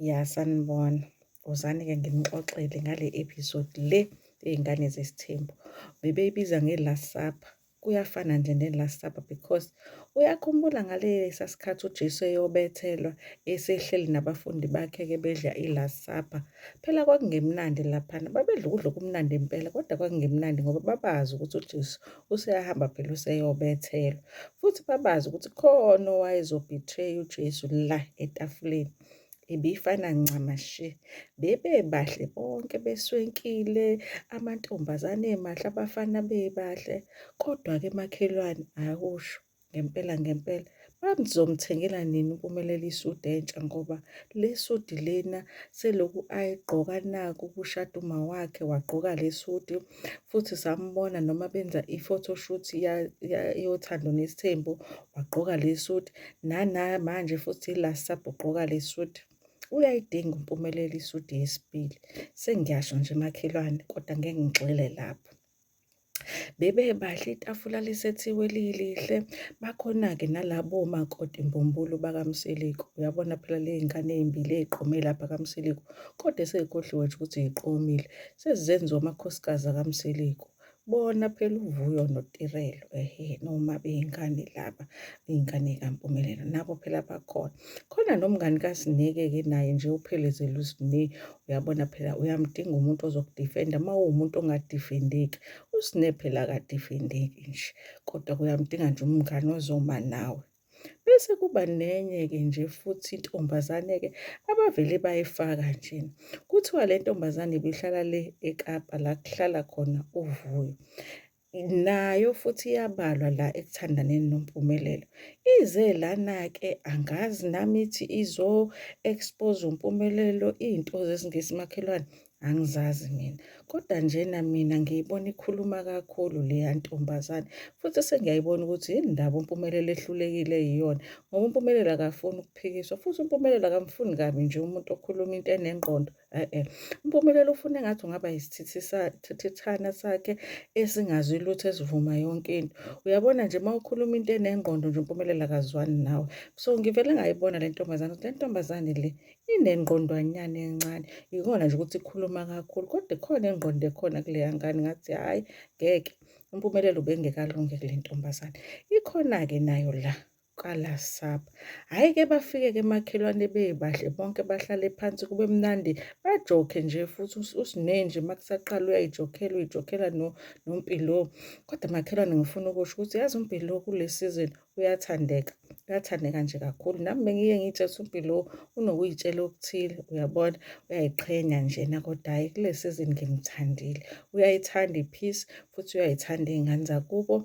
Ya sanibona. Wozani-ke nginixoxele ngale episode le ey'ngane zesithembu. Bebeyibiza nge-last supper. Kuyafana nje ne-last supper because uyakhumbula ngalesa sikhathi uJesu eyobethelwa esehleli nabafundi bakhe-ke bedla i-last supper. Phela kwakungemnandi laphana. Babedla ukudla okumnandi impela kodwa kwakungemnandi ngoba babazi ukuthi uJesu useyahamba phela useyobethelwa futhi babazi ukuthi khona owayezobetray uJesu la etafuleni ibifana ncamashe bebebahle bonke beswenkile amantombazane emahle abafana bebahle kodwa ke makhelwane akusho ngempela ngempela babzomthengela nini uMpumelelo isudi entsha ngoba le sudi lena seloku ayigqoka naku kushada uma wakhe wagqoka le sudi futhi sambona noma benza i-photoshoot yothando nesithembu wagqoka le sudi nana manje futhi ila sabho ugqoka le sudi uyayidinga uMpumelelo isudi yesibili sengiyasho nje makhelwane kodwa ngeke ngigxile lapho Bebebahle itafula lisethiwe lilihle, bakhona-ke nalabo makoti mbumbulu bakaMseleku. Uyabona phela ley'ngane ey'mbili ey'qome lapha kaMseleku, kodwa esey'khohliwe nje ukuthi y'qomile, sezenziwa amakhosikazi akaMseleku. Bona phela uVuyo noTirelo, ehe, noma bey'ngane laba, iy'ngane y'kaMpumelelo, nabo phela bakhona. Khona nomngani kaSineke-ke naye nje uphelezela uSineke, uyabona phela uyamdinga umuntu ozokudifenda uma uwumuntu ongadifendeki usine phela akadifendeki nje kodwa kuyamdinga nje umngane ozoma nawe bese kuba nenye-ke nje futhi intombazane-ke abavele bayifaka nje kuthiwa le ntombazane ibihlala le ekapa la kuhlala khona uvuyo nayo futhi iyabalwa la ekuthandaneni noMpumelelo. Ize lana-ke angazi nami ithi izo-expose uMpumelelo iy'nto zesingisi makhelwane angizazi mina. Kodwa njena mina ngiyibona ikhuluma kakhulu leya ntombazane futhi sengiyayibona ukuthi yini ndaba uMpumelelo ehlulekile yiyona ngoba uMpumelelo akafuni ukuphikiswa futhi uMpumelelo akamfuni kabi nje umuntu okhuluma into enengqondo. E-e, uMpumelelo ufuna engathi ungaba yisithithithana sakhe esingazi lutho esivuma yonke into. Uyabona nje uma ukhuluma into enengqondo nje uMpumelelo akazwani nawe. So ngivele ngayibona le ntombazane ukuthi le ntombazane le inengqondwanyana encane. Yikona nje ukuthi ikhuluma kakhulu kodwa ikhona ingqondo ekhona kuleya ngane ngathi hhayi ngeke uMpumelelo ubengekalunge kule ntombazane. Ikhona-ke nayo la. kwalasapha. Hhayi ke bafike ke makhelwane bebahle bonke bahlale phansi kube mnandi bajokhe nje futhi usinenje makusaqala uyayijokhela uyijokhela no nompilo. Kodwa makhelwane ngifuna ukusho ukuthi yazi umpilo kule season uyathandeka. Uyathandeka nje kakhulu. Nami bengiye ngitshe ukuthi umpilo unokuyitshela okuthile uyabona uyayiqhenya njena kodwa hhayi kule season ngimthandile. Uyayithanda i-peace futhi uyayithanda iy'ngane zakubo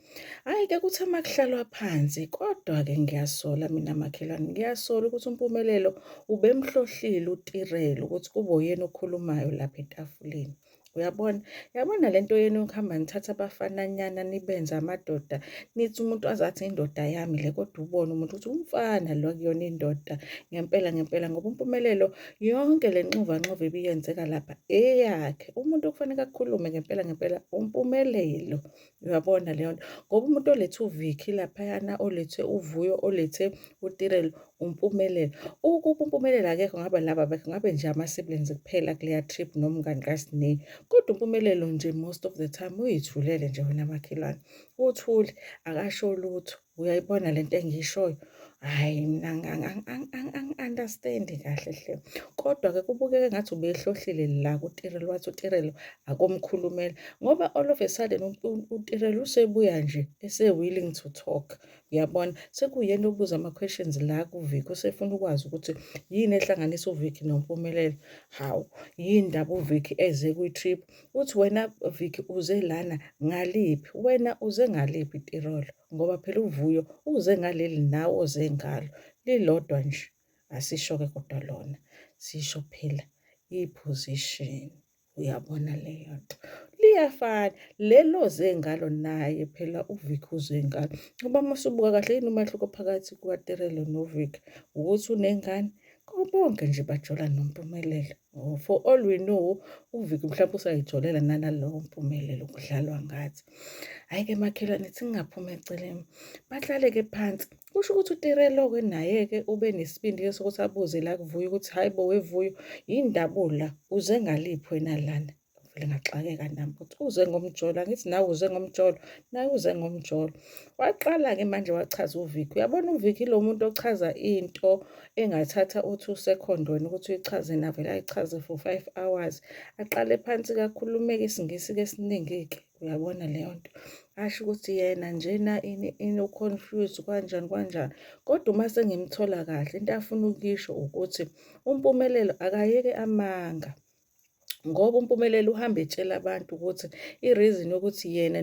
Hhayi ke kuthi uma kuhlalwa phansi kodwa-ke ngiyasola mina makhelwane ngiyasola ukuthi umpumelelo ubemhlohlile utirelo ukuthi kube uyena okhulumayo lapha etafuleni uyabona yabona le nto yenu yokuhamba nithatha abafananyana nibenze amadoda nithi umuntu azathi indoda yami le kodwa ubone umuntu ukuthi umfana lo kuyona indoda ngempela ngempela ngoba umpumelelo yonke le nxuvanxuva ibiyenzeka lapha eyakhe umuntu okufanele akhulume ngempela ngempela umpumelelo Uyabona leyo nto ngoba umuntu olethe uVicky laphayana olethe uVuyo olethe uTirelo uMpumelelo ukuba uMpumelelo akekho ngabe laba bakhe ngabe nje ama-siblings kuphela kuleya trip nomngani kaSne kodwa uMpumelelo nje most of the time uyithulele nje wena makhelwane uthule akasho lutho. uyayibona lento engiyishoyo hayi mina angi-understandi kahle hle kodwa-ke kubukeke ngathi ubehlohlile la kutirelo wathi utirelo akomkhulumela ngoba all of a sudden utirelo usebuya nje ese-willing to talk uyabona sekuyena obuza ama-questions la kuviki usefuna ukwazi ukuthi yini ehlanganisa uviki nompumelelo hawu yini ndaba uviki eze kwi-trip uthi wena Vicky uze lana ngaliphi wena uze ngaliphi tirolo ngoba phela uvuyo uze ngaleli nawe oze ngalo lilodwa nje asisho-ke kodwa lona sisho phela i-position uyabona leyo nto liyafana lelo zengalo naye phela uVicky uzengalo ngoba masubuka kahle yini umahluko phakathi kukaTerelo noVicky ukuthi unengane konke nje bajola nompumelelo Oh, for all we know uviki mhlawumbe usayijolela nanalowo mpumelelo kudlalwa ngathi hhayi-ke makhelwane singaphuma eceleni bahlale-ke phansi kusho ukuthi utirelo-ke naye-ke ube nesibindi-ke sokuthi abuze la kuvuyo ukuthi hhayi bo wevuyo yini ndabula uze ngaliphi wena lana vele ngaxakeka nami ukuthi uze ngomjolo angithi nawe uze ngomjolo naye uze ngomjolo waqala-ke manje wachaza uviki uyabona uviki lo muntu ochaza into engathatha uthi usekhondweni ukuthi uyichaze navele ayichaze for five hours aqale phansi kakhulumeke isingisi-ke esiningi-ke uyabona leyo nto asho ukuthi yena njena ini ini uconfused kanjani kanjani kodwa uma sengimthola kahle into afuna ukuyisho ukuthi umpumelelo akayeke amanga ngoba uMpumelelo uhambe etshela abantu ukuthi i-reason yokuthi yena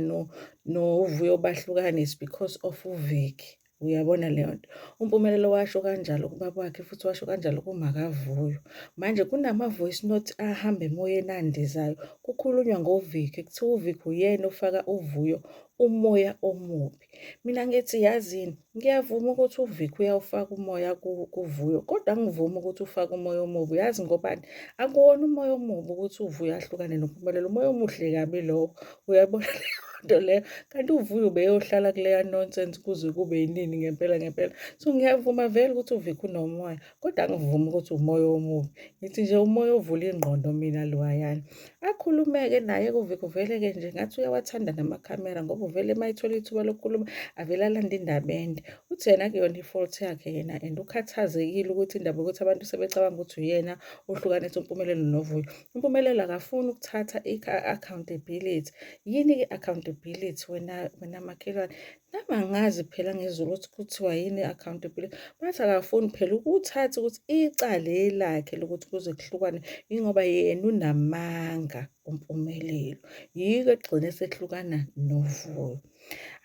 noVuyo no bahlukane is because of uViki uyabona leyo nto umpumelelo washo kanjalo kubaba wakhe futhi washo kanjalo kumakavuyo manje kunama-voice note ahamba emoyeni andizayo kukhulunywa ngoviki kuthiwa uviki uyena ofaka uvuyo umoya omubi Mina ngithi yazini, ngiyavuma ukuthi uVic uyawufaka umoya kuVuyo kodwa angivumi ukuthi ufake umoya omubi. Uyazi ngobani? Akuwona umoya omubi ukuthi uVuyo ahlukane noMpumelelo, umoya omuhle kabi lowo. Uyabona leyo nto leyo? Kanti uVuyo ubeyohlala kuleya nonsense kuze kube yinini ngempela ngempela? So ngiyavuma vele ukuthi uVic unomoya kodwa angivumi ukuthi umoya omubi ngithi nje umoya ovula ingqondo mina loyayana akhulumeke naye kuveleke nje ngathi uyawathanda namakhamera ngoba uvele uma ethola ithuba lokukhuluma avele alande indaba ende uthi yena kuyona i-fault yakhe yena and ukhathazekile ukuthi indaba yokuthi abantu sebecabanga ukuthi uyena ohlukanisa umpumelelo novuyo umpumelelo akafuni ukuthatha i-accountability yini-ke accountability wena wena makhelwane Nami angazi phela ngezulu ukuthi kuthiwa yini i-accountability. Bathi akafuni phela ukuthatha ukuthi icala elakhe lokuthi kuze kuhlukane yingoba yena unamanga uMpumelelo. Yiko egcine sehlukana noVuyo.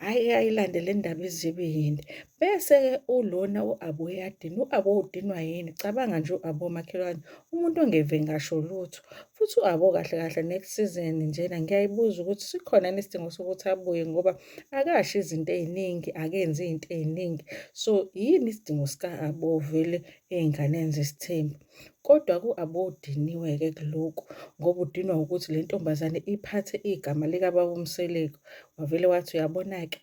Hhayi ayilande le ndaba izibe yinde. Bese-ke ulona u-Abo uyadina. U-Abo udinwa yini? Cabanga nje u-Abo makhelwane umuntu ongeve ngasho lutho. Futhi u-Abo kahle kahle next season njena ngiyayibuza ukuthi sikhona yini isidingo sokuthi abuye ngoba akasho izinto ey'ningi akenzi iy'nto ey'ningi so yini isidingo sika-abo vele ey'nganeni zesithembu kodwa ku-abo udiniwe-ke kulokhu ngoba udinwa ukuthi le ntombazane iphathe igama likababa umseleku wavele wathi uyabona-ke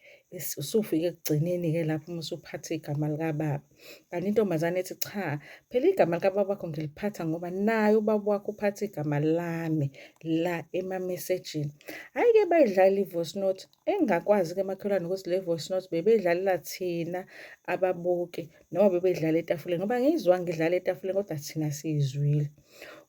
usufike ekugcineni-ke lapho uma usuphathe igama likababa kanti intombazane ethi cha phela igama likababakho ngiliphatha ngoba naye ubaba wakho uphatha igama lami la emamesejini hhayi-ke bayidlala i-voice note engakwazi-ke emakhelwane ukuthi le voice note bebeyidlalela thina ababuki noma bebeyidlala etafuleni ngoba ngiyizwa ngidlala etafuleni kodwa thina siyizwile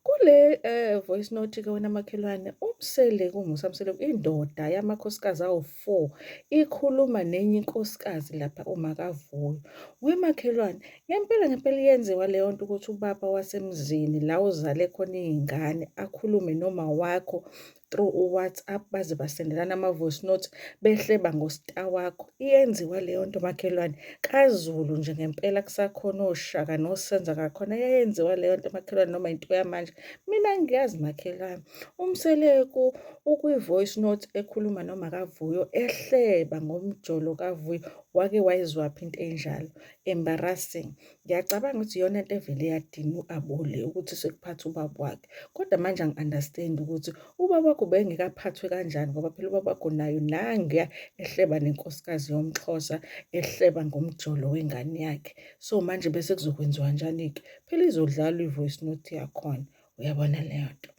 Kule eh voice note ke wena makhelwane umseleku Musa Mseleku indoda yamakhosikazi awu4 ikhuluma nenye inkosikazi lapha umakavuyo. Wemakhelwane ngempela ngempela yenziwa leyo nto ukuthi ubaba wasemzini la uzale khona izingane akhulume noma wakho through uWhatsApp baze basendelana ama-voice note behleba ngostar wakho iyenziwa leyo nto makhelwane kaZulu nje ngempela kusakhona oShaka noSenza kakhona yayenziwa leyo nto makhelwane noma into yamanje mina ngiyazi makhelwane umseleku ukwi-voice note ekhuluma noma kaVuyo ehleba ngomjolo kaVuyo wake wayizwaphi into enjalo embarrassing ngiyacabanga ukuthi iyona nto evele yadinga u-abole ukuthi sekuphatha ubaba wakhe kodwa manje angi-understand ukuthi ubaba wakho bengekaphathwe kanjani ngoba phela ubaba wakho nayo nangiya ehleba nenkosikazi yomxhosa ehleba ngomjolo wengane yakhe so manje bese kuzokwenziwa njani-ke phela izodlalwa i-voice note yakhona uyabona leyo nto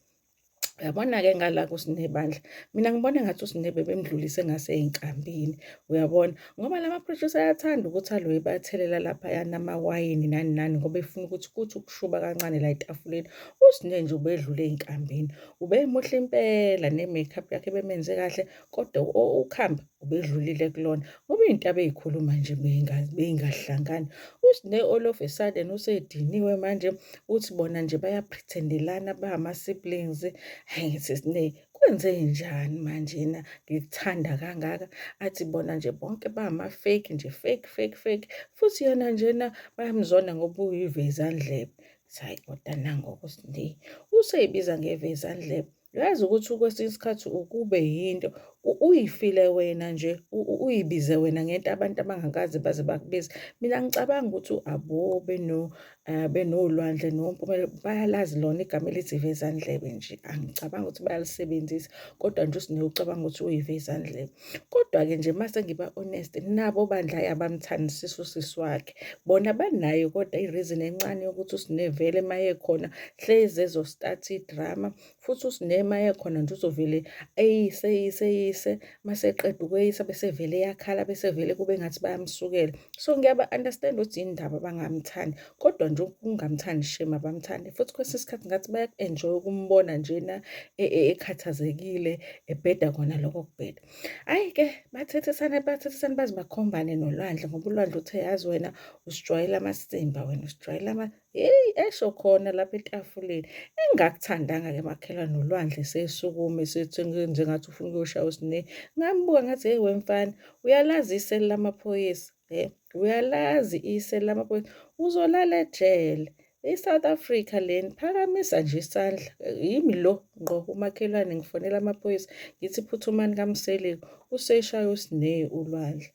Uyabona-ke ngala kuSinebandla, mina ngibona engathi uSinebe bemdlulise ngasey'nkambini, uyabona? Ngoba la ma-producer ayathanda ukuthi aloye ebathelela laphaya namawayini nani nani ngoba efuna ukuthi kuthi ukushuba kancane la etafuleni. USine nje ubedlule ey'nkambini, ubemuhle impela ne-make up yakhe ebemenze kahle kodwa ukhamba ubedlulile kulona ngoba into abeyikhuluma nje beyingahlangani usine all of a sudden usediniwe manje uthi bona nje bayaprethendelana bama siblings hayi sisine kwenze njani manje na ngikuthanda kangaka athi bona nje bonke bama fake nje fake fake fake futhi yena njena bayamzona ngoba uyivezandlebe sayi kodwa nangoku sine useyibiza ngevezandlebe Yazi ukuthi kwesinye isikhathi ukube yinto uyifile wena nje uyibize wena ngento abantu abangakaze baze bakubize. Mina ngicabanga ukuthi abo beno eh, benolwandle nompumelelo bayalazi lona igama elithi ivezandlebe nje. Angicabangi ukuthi bayalisebenzisa kodwa nje uSnewu ucabanga ukuthi uyivezandlebe. Kodwa-ke nje uma sengiba honest nabo bandla abamthandisisi usisi wakhe. Bona banayo kodwa i-reason encane yokuthi uSne vele uma ekhona hlezi ezo-start idrama futhi uSne uma ekhona nje uzovele eyise eyise eyise uma seqeda ukweyisa bese vele eyakhala bese vele kube ngathi bayamsukela. So ngiyaba-understand ukuthi yini ndaba bangamthandi kodwa nje ukungamthandi shame abamthandi futhi kwesinye isikhathi ngathi bayaku-enjoy ukumbona njena e, e, ekhathazekile ebheda kona lokho kubheda ayi-ke bathethisane bathethisane baze bakhombane nolwandle ngoba ulwandle uthe yazi wena usijwayela amasimba wena usijwayela ama yeyi esho khona lapha etafuleni engakuthandanga-ke makhelwa nolwandle sesukume senjengathi ufuna ukuyoshaya usine ngambuka ngathi heyi wemfana uyalazisela lamaphoyisa Eh, uyalazi ise lamaphoyisa uzolala ejele i-south africa leni phakamisa nje isandla yimi lo ngqo umakhelwane ngifonela amaphoyisa ngithi phuthumani kamseleko useshaya usineyi ulwandle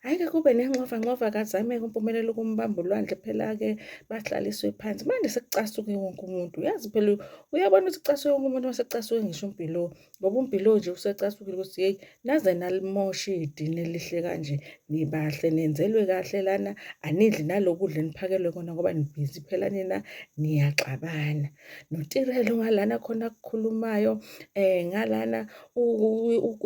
hhayi-ke kube nenxova nxova kazameke umpumelelo ukumbamba ulwandle phela-ke bahlaliswe phansi manje sekucasuke wonke umuntu uyazi phela uyabona ukuthi kucasuke wonke umuntu uma sekucasuke ngisho umpilo ngoba umpilo nje usecasukile ukuthi yeyi naze nalimosha idini elihle kanje nibahle nenzelwe kahle lana anidli nalokudla eniphakelwe kona ngoba nibhizi phela nina niyaxabana notirelo ngalana khona kukhulumayo eh ngalana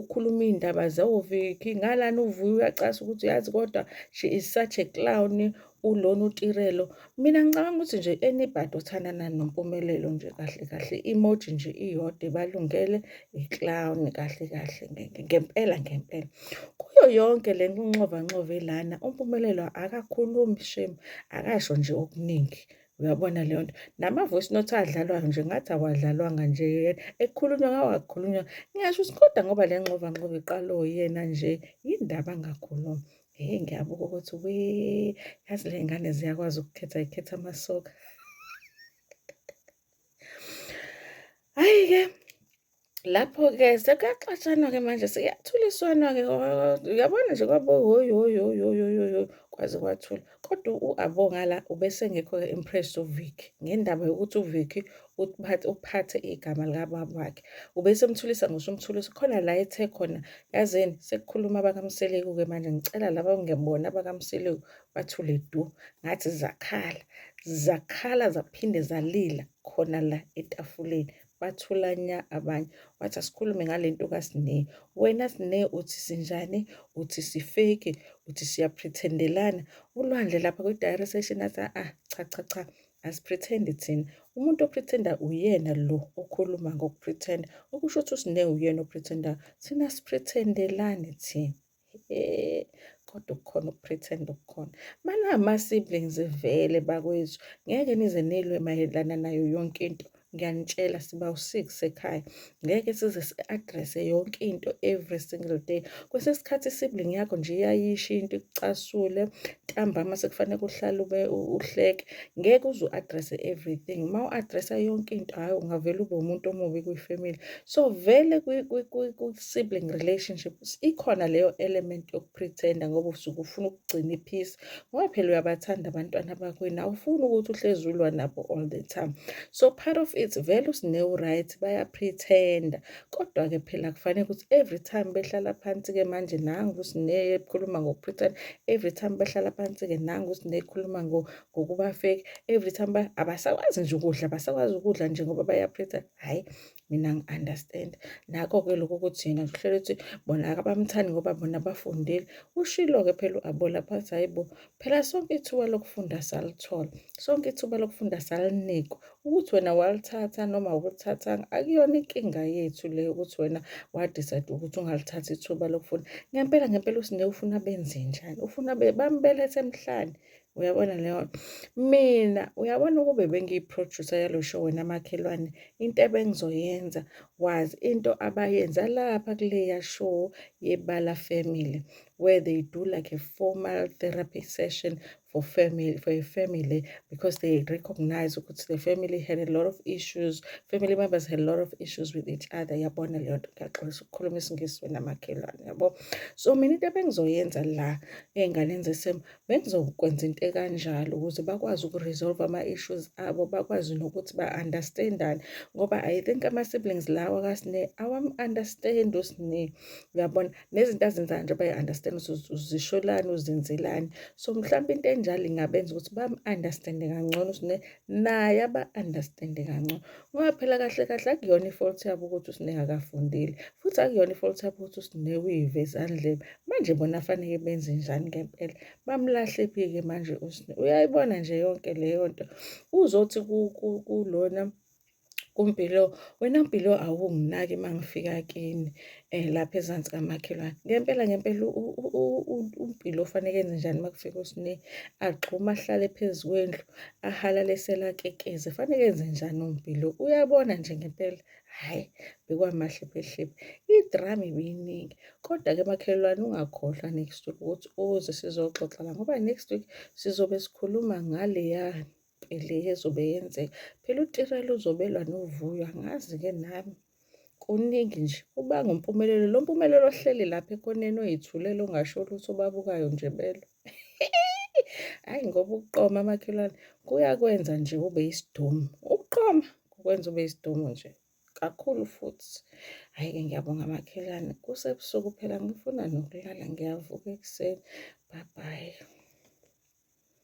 ukhuluma indaba zewoviki ngalana uvuya uyacasa ukuthi yazi kodwa she is such a clown ulona uTirelo. Mina ngicabanga ukuthi nje anybody othandana noMpumelelo nje kahle kahle emoji nje iyodwa ibalungele i-clown kahle kahle ngempela ngempela. Kuyo yonke le nkunxovanxova elana uMpumelelo akakhulumi shame akasho nje okuningi. Uyabona leyo nto nama-voice note adlalwayo nje ngathi awadlalwanga nje yena ekukhulunywa ngawakhulunywa ngisho ukuthi kodwa ngoba le nxovanxova iqala oyena nje yini ndaba angakhulumi. Hey ngiyabuka ukuthi we yazi le ngane ziyakwazi ukukhetha ikhetha amasoka. Hayi-ke lapho-ke sekuyaxatshanwa-ke manje sekuyathuliswana-ke uyabona nje kwabo hoyi hoyi hoyi hoyi hoyi hoyi kwaze kwathula kodwa u-abo ngala ubesengekho-ke impressed uvicky ngendaba yokuthi uvicky uphathe uphathe igama likababa wakhe ubese umthulisa ngisho umthulisa khona la ethe khona yazini sekukhuluma abakamseleku ke manje ngicela laba ngebona abakamseleku bathule du ngathi zakhala zakhala zaphinde zalila khona la etafuleni bathula nya abanye wathi asikhulume ngale nto kasine wena sine uthi sinjani uthi sifeki uthi siyaprethendelana ulwandle lapha kwi-diary session athi ah cha cha cha Asipretend thina. Umuntu opretenda uyena lo okhuluma ngokupretenda. Okusho ukuthi usine uyena opretendayo. Thina sipretendelani thina. Eh kodwa ukukhona ukupretenda okukhona. Mana ama siblings vele bakwethu. Ngeke nize nilwe mayelana nayo yonke into. ngiyanitshela siba u-six ekhaya ngeke size si-address-e yonke into every single day kwesinye isikhathi i-sibling yakho nje iyayisho into ikucasule ntambama sekufanele uhlale ube uhleke ngeke uze u-address-e everything uma u-address-a yonke into hhayi ungavele ube umuntu omubi kwi-family so vele kwi-sibling relationship ikhona leyo element yokuthi pretender ngoba usuke ufuna ukugcina iphisi ngoba phela uyabathanda abantwana bakwenu awufuni ukuthi uhlezi ulwa nabo all the time so part of it vele usinewu-right bayapretenda kodwa-ke phela kufanele ukuthi every time behlala phansi-ke manje nangu usinekhuluma ngokupretenda every time behlala phansi-ke nangu usinekhuluma ngokuba fake every time abasakwazi nje ukudla abasakwazi ukudla nje ngoba bayapretenda hhayi mina ngi-understand nako-ke lokhu ukuthi yena ngihlela ukuthi bona akabamthandi ngoba bona bafundile ushilo-ke phela u-abola phathi hhayi bo phela sonke ithuba lokufunda salithola sonke ithuba lokufunda salinikwa ukuthi wena walithatha noma ukulithathanga akuyona inkinga yethu leyo ukuthi wena wadicide ukuthi ungalithathi ithuba lokufunda ngempela ngempela usinike ufuna benze njani ufuna bambelethe emhlane uyabona leyo mina uyabona ukube bengiyi-producer yalo show wena makhelwane into ebengizoyenza was into abayenza lapha kuleya show yebala family where they do like a formal therapy session for family for a family because they recognize ukuthi the family had a lot of issues family members had a lot of issues with each other yabona leyo nto ngiyaxolisa ukukhuluma isingisi wena makhelwane yabo so mina into ebengizoyenza la ey'nganeni zesimo bengizokwenza into ekanjalo ukuze bakwazi uku-resolve ama-issues abo bakwazi nokuthi ba-understandane ngoba i think ama-siblings lawa kasine awam-understand usine uyabona nezinto azenzayo nje bayi-understand ukuthi uzisholani uzenzelani so mhlawumbe into enjalo ingabenza ukuthi bam-understande kangcono usine naye aba-understand-e kancono ngoba phela kahle kahle akuyona i-fault yabo ukuthi uSineha akafundile futhi akuyona i-fault yabo ukuthi uSineha uyive ezandleni manje bona faneke benze njani ngempela bamlahle phi-ke manje uSineha uyayibona nje yonke leyo nto uzothi kulona kuMpilo wena Mpilo awunginaki mangifika kini eh lapha ezansi kamakhelwane ngempela ngempela uMpilo ufanele enze njani makufika usine agxuma ahlale phezukwendlu ahalale selakekeze fanele enze njani uMpilo uyabona nje ngempela hayi bekwamahle phehlepe idrama ibiyiningi kodwa ke makhelwane ungakhohlwa next week ukuthi uze sizoxoxa la ngoba next week sizobe sikhuluma ngaleyani le ezobe yenzeka phela utirela uzobe elwa novuyo angazi-ke nami kuningi nje ubanga umpumelelo lo mpumelelo ohleli lapha ekhoneni oyithulela ongasho lutho obabukayo nje belo hhayi ngoba ukuqoma amakhelwane kuyakwenza nje ube isidumu ukuqoma kukwenza ube isidumu nje kakhulu futhi hhayi-ke ngiyabonga makhelwane kusebusuku phela ngifuna nokulala ngiyavuka ekuseni bye bye